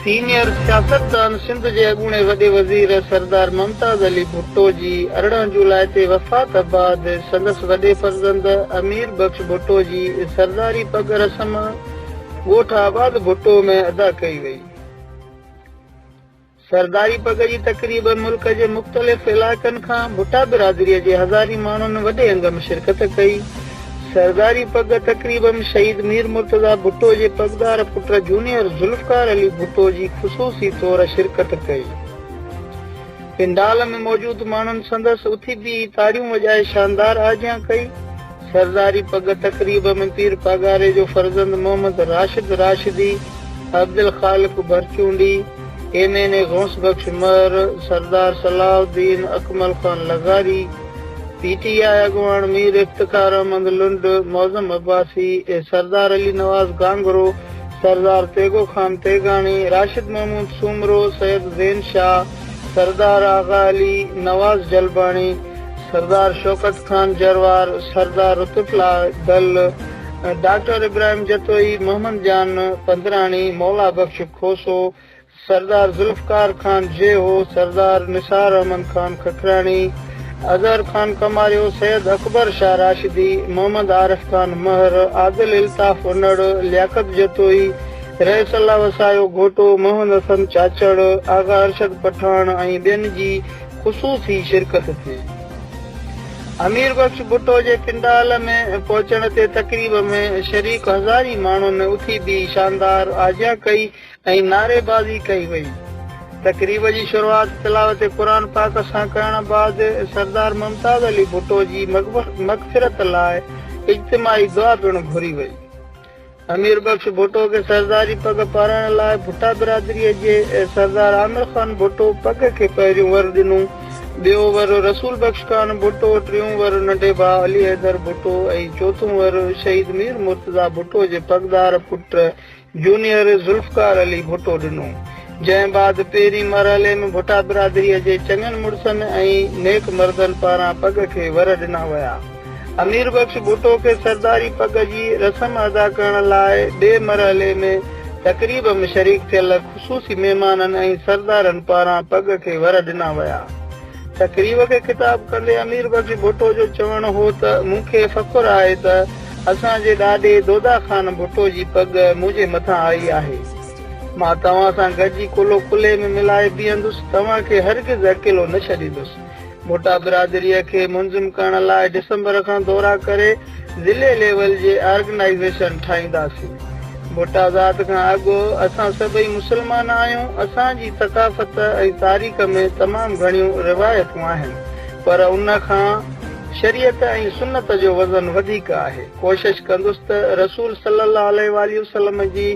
Senior سياستدان سنڌ جي اڳوڻي وڏي وزير سردار ممتاز علي ڀٽو جي ارڙهن جولاء تي وفات بعد سندس وڏي فرزند امير بخش ڀٽو جي سرداري پڳ رسم ڳوٺ آباد ڀٽو ۾ ادا ڪئي وئي. سرداري پڳ جي تقريب ملڪ جي مختلف علائقن کان ڀٽا برادري جي هزارين ماڻهن وڏي انگ م شرڪت ڪئي. سرداري پڳ تقريب م شهيد مير مرتضيٰ ڀٽو جي پڳدار پٽ جونيئر ذوالفقار علي ڀٽو جي خصوصي طور شرڪت ڪئي. پنڊال م موجود ماڻهن سندس اٿي بيهي تاڙيون وڄائي شاندار آجيان ڪئي. سرداري پڳ تقريب ۾ پير پاڳاري جو فرزند Muhammad Rashid Rashdi, Abdul Khaliq Bharchundi, M N A Ghaus Bakhsh Mahar, Sardar صلاح الدين اڪمل خان لغاري، پي ٽي آء اڳواڻ مير افتخار احمد لنڊ، معظم عباسي ۽ سردار علي نواز گانگرو، سردار تيغو خان تيغاڻي، راشد محمود سومرو، سيد زين شاهه، سردار آغا علي، نواز جلباڻي، سردار شوڪت خان جروار، سردار رتوٽلا دل، ڊاڪٽر ابراهيم جتوئي، محمد جان پندراڻي، مولا بخش کوسو، سردار ذوالفقار خان جيهو، سردار نثار احمد خان ککراڻي، اظهر خان ڪماريو، سيد اڪبر شاهه راشدي، محمد عارف خان مهر، عادل الطاف انڙ، لياقت جتوئي، رئيس الله وسايو گهوٽو، محمد حسن چاچڙ، آغا ارشد پٺاڻ ۽ ٻين جي خصوصي شرڪت ٿي. امير بخش ڀٽو جي پنڊال ۾ پهچڻ تي تقريب ۾ شريڪ هزارين ماڻهن اٿي بيهي شاندار آجيان ڪئي ۽ نعريبازي ڪئي وئي. تقريب جي شروعات تلاوت قرآن پاڪ سان ڪرڻ بعد سردار ممتاز علي ڀٽو جي مغفرت لاء اجتماعي دعا پڻ گهري وئي. امير بخش ڀٽو کي سرداري پڳ پارائڻ لاء ڀٽا برادريء جي سردار عامر خان ڀٽو پڳ کي پهريون ور ڏنو. ٻيو ور رسول بخش خان ڀٽو، ٽيون ور ننڍي ڀاء علي حيدر ڀٽو ۽ چوٿون ور شهيد مير مرتضيٰ ڀٽو جي پڳدار پٽ جونيئر ذوالفقار علي ڀٽو ڏنو. جنهن بعد پهرين مرحلي ۾ ڀٽا برادريء جي چڱن مڙسن ۽ نيڪ مردن پاران پڳ کي ور ڏنا ويا. امير بخش ڀٽو کي سرداري پڳ جي رسم ادا ڪرڻ لاء ٻئي مرحلي ۾ تقريب م شريڪ ٿيل خصوصي مهمانن ۽ سردارن پاران پڳ کي ور ڏنا ويا. تقريب کي خطاب ڪندي امير بخش ڀٽو جو چوڻ هو ته مون کي فخر آهي ته اسان جي ڏاڏي دودا خان ڀٽو جي پڳ منهنجي مٿان آئي آهي. مان توهان سان گڏجي ڪلهو ڪلهي ۾ ملائي بيهندس، توهان کي هرگز اڪيلو نه ڇڏيندس. ڀٽا برادريء کي منظم ڪرڻ لاء ڊسمبر کان دورا ڪري ضلعي ليول جي آرگنائيزيشن ٺاهينداسين. ڀٽا ذات کان اڳ اسان سڀئي مسلمان آهيون، اسان جي ثقافت ۽ تاريخ ۾ تمام گهڻيون روايتون آهن، پر ان کان شريعت ۽ سنت جو وزن وڌيڪ آهي. ڪوشش ڪندس ته رسول صلي الله عليه واٰله وسلم جي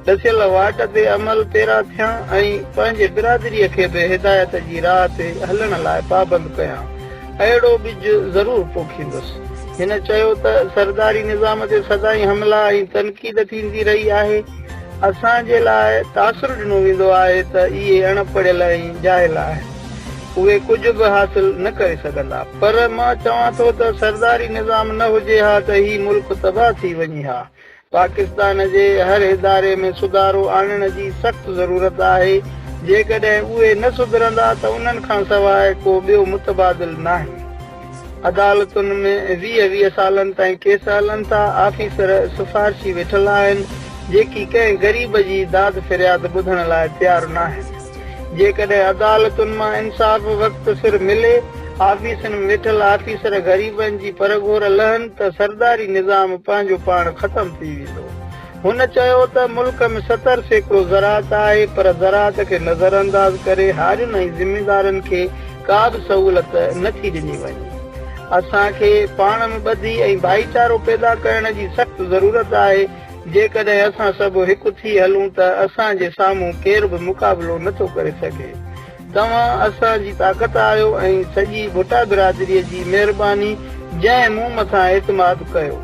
ڏسيل واٽ تي عمل پيرا ٿيان ۽ پنهنجي برادريء کي به هدايت جي راهه تي هلڻ لاء پابند ڪيان. اهڙو ٻج ضرور پوکيندس. هن چيو ته سرداري نظام تي سدائين حملا ۽ تنقيد ٿيندي رهي آهي. اسان جي لاء تاثر ڏنو ويندو آهي ته اهي اڻ پڙهيل ۽ جاهل آهن. اهي ڪجهه به حاصل نه ڪري سگهندا. پر مان چوان ٿو ته سرداري نظام نه هجي ها ته هي ملڪ تباهه ٿي وڃي ها. پاڪستان جي هر اداري ۾ سڌارو آڻڻ جي سخت ضرورت آهي، جيڪڏهن اهي نه سڌرندا ته انهن کان سواء ڪو ٻيو متبادل ناهي. عدالتن ۾ ويهه ويهه سالن تائين ڪيس هلن ٿا، آفيسر سفارشي ويٺل آهن، جيڪي ڪنهن غريب جي داد فرياد ٻڌڻ لاء تيار ناهن. جيڪڏهن عدالتن مان انصاف وقت سر ملي، آفيسن ۾ ويٺل آفيسر غريبن جي پرگهور لهن ته سرداري نظام پنهنجو پاڻ ختم ٿي ويندو. هن چيو ته ملڪ ۾ ستر سيڪڙو زراعت آهي پر زراعت کي نظرانداز ڪري هارين ۽ ذميدارن کي ڪا به سهولت نه ٿي ڏني وڃي. اسان کي پاڻ ۾ ٻڌي ۽ ڀائيچارو پيدا ڪرڻ جي سخت ضرورت آهي. جيڪڏهن اسان سڀ هڪ ٿي هلون ته اسان جي سامهون ڪير به مقابلو نه ٿو ڪري سگهي. توهان اسان جي طاقت آهيو ۽ سڄي ڀٽا برادري جي مهرباني جنهن مون مٿان اعتماد ڪيو.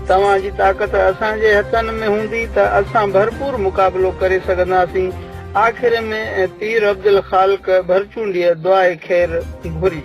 توهان جي طاقت اسان جي هٿن ۾ هوندي ته اسان ڀرپور مقابلو ڪري سگهنداسين آخر ۾ پير عبدالخالق ڀرچونڊيء دعائي خير گهري.